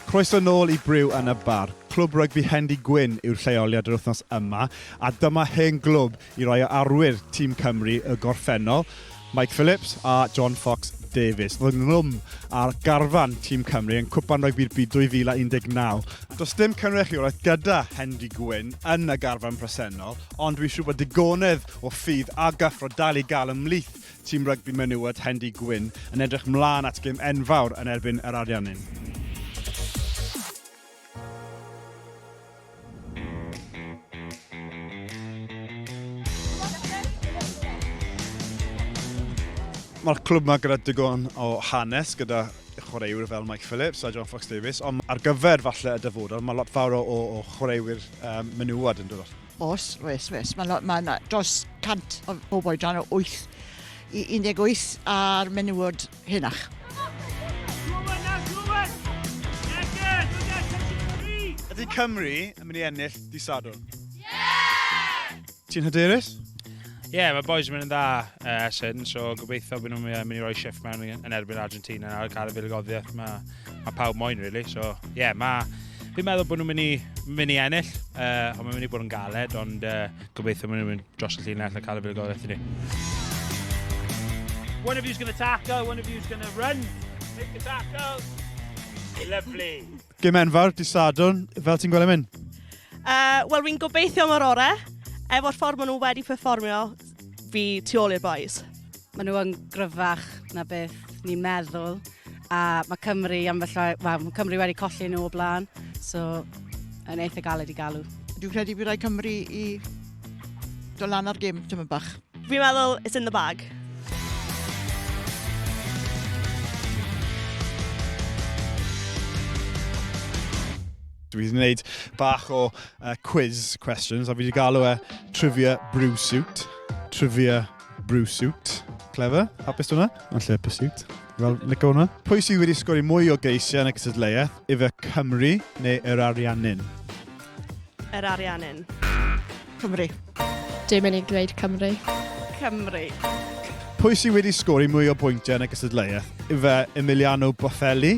Croeso nôl i Briw yn y Bar. Clwb rygbi Hendy Gwyn yw'r lleoliad yr wythnos yma, a dyma hen glwb i rai o arwyr tîm Cymru y gorffennol, Mike Phillips a John Fox Davies. Fy nglwm ar garfan tîm Cymru yn Cwpan Rygbi'r Byd 2019. Does dim cynrychiolaeth gyda Hendy Gwyn yn y garfan presennol, ond dwi'n siŵr bod digonedd o ffydd a gyffro dal i gael ymhlith Tîm rygbi menywod Hendy Gwyn yn edrych mlân at gêm enfawr yn erbyn yr Ariannin. Mae'r clwb yma gyda digon o hanes, gyda chwaraewyr fel Mike Phillips a John Fox Davies, ond ar gyfer falle y dyfodol, mae lot fawr o, o chwaraewyr um, menywod yn dod Oes, oes, oes. Mae yna ma dros 100 o bobl i dan o 8 i 18 ar menywod henach. Ydy Cymru yn mynd i ennill di Sadwrn? Yeah! Ti'n hyderus? Ie, yeah, mae boys yn mynd yn dda uh, sy'n, so gobeithio bod nhw'n mynd i roi shift mewn yn erbyn Argentina ar cael y filigoddiaeth. Mae mae pawb moyn, really. So, ie, yeah, mae... Fi'n meddwl bod nhw'n mynd i, mynd i ennill, uh, ond mae'n mynd i bod yn galed, ond uh, gobeithio maen nhw'n mynd dros y llinell a cael y fuddugoliaeth i ni. One of you's going to tackle, one of you's going to run. Make the tackle. Lovely. Gym enfawr, di Sadwn, fel ti'n gweld yn mynd? Uh, Wel, fi'n gobeithio mor orau. Efo'r ffordd maen nhw wedi performio, fi tu ôl i'r boys. Maen nhw yn gryfach na beth ni'n meddwl. A mae Cymru am y llai... Wel, mae Cymru wedi colli nhw o blaen. So, yn eitha galed i galw. Dwi'n credu bydd rhaid Cymru i do lan ar gym tyma bach. Fi'n meddwl, it's in the bag. Dwi wedi gwneud bach o uh, quiz questions a fi wedi galw e Trivia Brew Suit. Trivia Brewsuit. Clever. Hapus hwnna. Yn lle pursuit. Fel Nico hwnna. Pwy sydd wedi sgori mwy o geisiau yn y cysadleuaeth? Ife Cymru neu yr Ariannin? Yr Ariannin. Cymru. Dim yn ei gwneud Cymru. Cymru. Pwy sydd wedi sgori mwy o bwyntiau yn y cysadleuaeth? Ife Emiliano Boffelli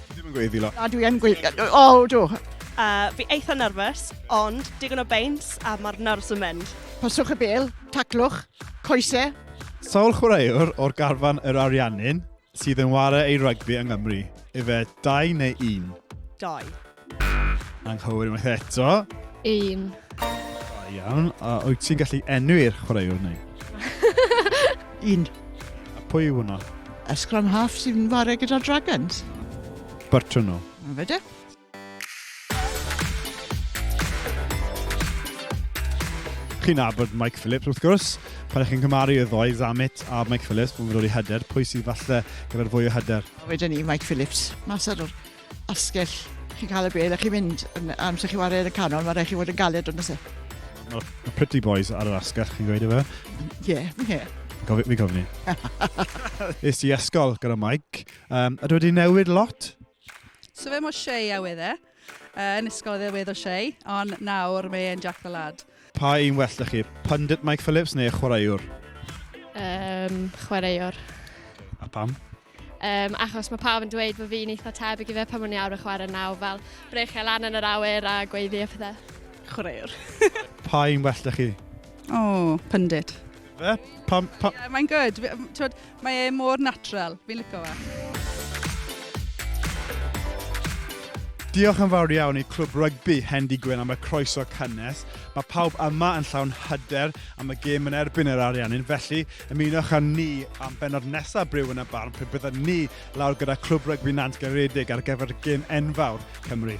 Ddim yn gweiddi lot. A dwi yn gweiddi. O, oh, do. Uh, fi eitha nerfus, ond digon o beins a mae'r nerfs yn mynd. Paswch y bel, taclwch, coese. Sawl chwaraewr o'r garfan yr Ariannin sydd yn ware ei rygbi yng Nghymru? Efe dau neu un? Dau. Anghywir unwaith eto. Un. Da iawn. A wyt ti'n gallu enwi'r chwaraewr neu? Un. A pwy yw hwnna? Y scrum half sy'n fare gyda Dragons. Bertrand nhw. Yn fydde? Chi'n abod Mike Phillips, wrth gwrs. Pan ych chi'n cymaru y ddoe, Zammit a Mike Phillips, pan fyddo'n ei hyder, pwy sydd falle gyda'r fwy o hyder? Wedyn ni, Mike Phillips. Mas ar yr asgell chi'n cael y bel a chi'n mynd yn, amser chi'n wario yn y canol, mae rhaid chi fod yn galed ond ysef. Mae ma Pretty Boys ar yr asgell, chi'n gweud efe? Ie, yeah, ie. Yeah. Gofi, fi gofni. Ys i ysgol gyda Mike. Um, a dwi wedi newid lot. So fe mo Shea a wedd e. Uh, yn ysgol oedd e wedd o Shea, ond nawr mae e'n Jack the Lad. Pa un well 'da chi, pundit Mike Phillips neu chwaraewr? Yym, chwaraewr. A pam? Um, achos mae pawb yn dweud bod fi'n eitha tebyg i fe pan o'n i awr y chwarae naw, fel brechio lan yn yr awyr a gweiddi a pethau. Chwaraewr. Pa un well da chi? O, oh, pundit. Fe? Pam? Pa... Yeah, mae'n good. Mae e mor natural, fi'n lico fe. Diolch yn fawr iawn i Clwb Rygbi Hendy Gwyn am y croeso cynnes. Mae pawb yma yn llawn hyder am y gêm yn erbyn yr Ariannin, felly ymunwch â ni am benod nesaf Bryw yn y Barn pe byddwn ni lawr gyda Clwb Rygbi Nant Garedig ar gyfer gêm enfawr Cymru.